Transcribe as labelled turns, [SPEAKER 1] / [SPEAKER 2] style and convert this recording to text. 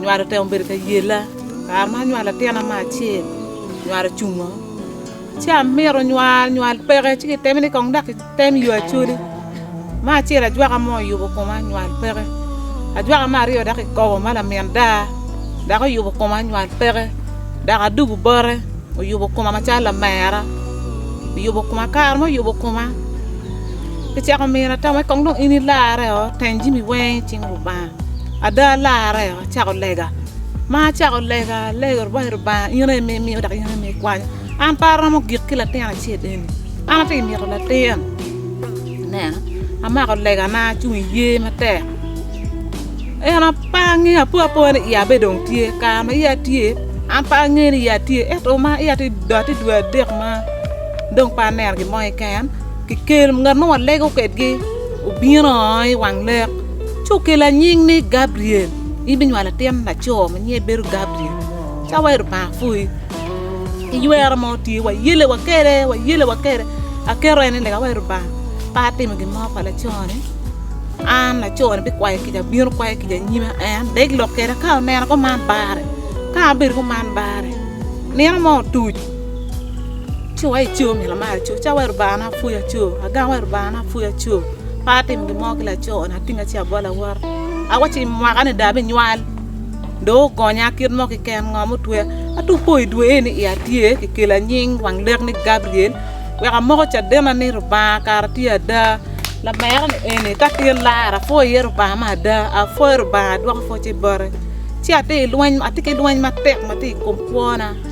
[SPEAKER 1] Nywalo otemo bedo ka yella. Kare ma anywalo latina ma acel, nywalo ocungo. Ci amito nywal, nywal peke. Ci kiteme ni kong dok kitem yo acoli. Me acel ajwaka mo oyubo koma, nywal peke. Ajwaka me aryo dok kikobo ma lamin daa, dok oyubo koma, nywal peke. Dok adugu bote oyubo koma macalo lamera, oyubo koma. Kare ma oyubo koma. Icako mira tammi kong dong in ilarre o, teng jami weng i cing Lubanga. Ada alarre o, acako lega. Ma acako lega, alego rwaci Lubanga, in aye ma imiyo dok in aye ma ikwanyo. An pe aromo gik ki latin acel eni. An atye ka mito latin. Ineno, amako legana, acung i yer matek. En pe angeyo, apwo apoya ni iya be dong tye. I kare ma iya tye, an pe angeyo ni iya tye, ento ma iya tye dong adwadek ma dong pe aneno gin mo keken. Kikel ngat ma walego kwedgi obino i wang lek, ci okelo anying ni Gabriel. In ibinywalo atin laco ma nyinge bedo Gabriel, cawa i Lubanga pwony. Iywero mo tye, wayelewa kwede, wayelewa kwede. Aketo en ni lega wa i Lubanga, ka atimo gin mo pa laconi, an laconi bikwayo kica, bino kwayo kica i nyima. En dek lok kwede ka oneno kuman barre, ka abedo kuman barre. Nino mo otuc. Ci wa ico myero amar aco ca wai Lubanga na pwoya aco agang wai Lubanga na pwoya aco pe atimo gin mo ki laco ni atinga ci abolo awota awaco i mwaka ni dong abinywal dong ogonya kit mo kiken ngo ma otweya ento wupo i dwe eni iya tye kikelo anying wang lek ni Gabriel wek amoko cadena ni Lubanga kara tye ada lamera ni eni ka tin lara apwoyo iye Lubanga me ada apwoyo Lubanga adwoko pwocce bote ci atye ki lweny matek matye i kom kwona.